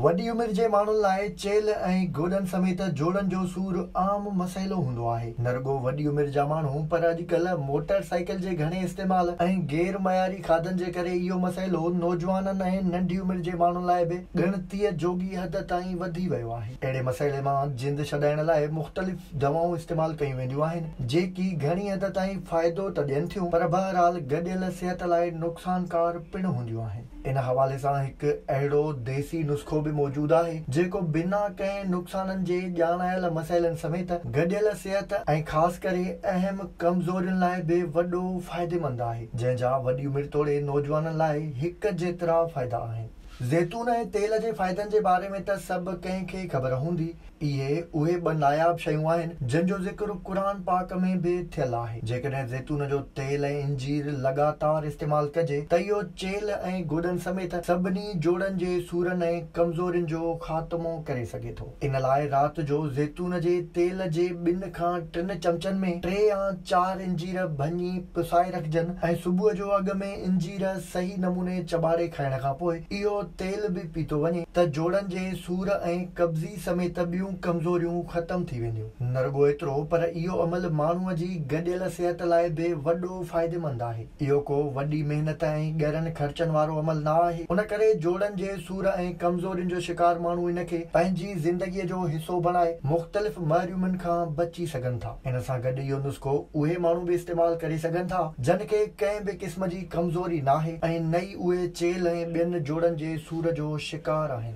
وڏي عمر جي ماڻهن لاء چيلهه ۽ گوڏن سميت جوڙن جو سور عام مسئلو هوندو آهي. نه رڳو وڏي عمر جا ماڻهو پر اڄڪلهه موٽر سائيڪل جي گهڻي استعمال ۽ غير معياري کاڌن جي ڪري اهو مسئلو نوجوانن ۽ ننڍي عمر جي ماڻهن لاء به ڳڻتيء جوڳي حد تائين وڌي ويو آهي. اهڙي مسئلي مان جند ڇڏائڻ لاء مختلف دوائون استعمال ڪيون وينديون آهن، جيڪي گهڻي حد تائين فائدو ته ڏين ٿيون پر بهرحال گڏيل صحت لاء نقصانڪار پڻ هونديون آهن. ان حوالي سان هڪ اهڙو ديسي نسخو به موجود آهي، جيڪو بنا ڪنهن نقصانن جي ڄاڻايل مسئلن سميت گڏيل صحت ۽ خاص ڪري اهم ڪمزورين لاء به وڏو فائديمند آهي، جنهن جا وڏي عمر توڙي نوجوانن لاء هڪ جيترا فائدا آهن. زيتون ۽ تيل جي فائدن جي باري ۾ ته سڀ ڪنهن کي خبر هوندي، اهي اهي ٻه ناياب شيون آهن جن جو ذڪر قرآن پاڪ ۾ به ٿيل آهي. جيڪڏهن زيتون جو تيل ۽ انجير لڳاتار استعمال ڪجي ته اهو چيلهه ۽ گوڏن سميت سڀني جوڙن جي سورن ۽ ڪمزورين جو خاتمو ڪري سگهي ٿو. ان لاء رات جو زيتون جي تيل جي ٻن کان ٽن چمچن ۾ ٽي يا چار انجير ڀڃي پسائي رکجن ۽ صبح جو اڳ ۾ انجير صحيح نموني چٻاڙي کائڻ کان پوء اهو تيل به پيتو وڃي ته جوڙن جي سور ۽ قبضي سميت ٻيون ڪمزوريون ختم ٿي وينديون. نه رڳو ايترو پر اهو عمل ماڻهوء جي گڏيل صحت لاء به وڏو فائديمند آهي. اهو ڪو وڏي محنت ۽ ڳرن خرچن وارو عمل نه آهي. ان ڪري جوڙن جي سور ۽ ڪمزورين جو شڪار ماڻهو ان کي پنهنجي زندگيء جو حصو بڻائي مختلف محرومين کان بچي سگهن ٿا. ان سان گڏ اهو نسخو اهي ماڻهو به استعمال ڪري سگهن ٿا جن کي ڪنهن به قسم جي ڪمزوري ناهي ۽ نه ئي اهي چيل ۽ ٻين جوڙن جي سور جو شڪار آهن.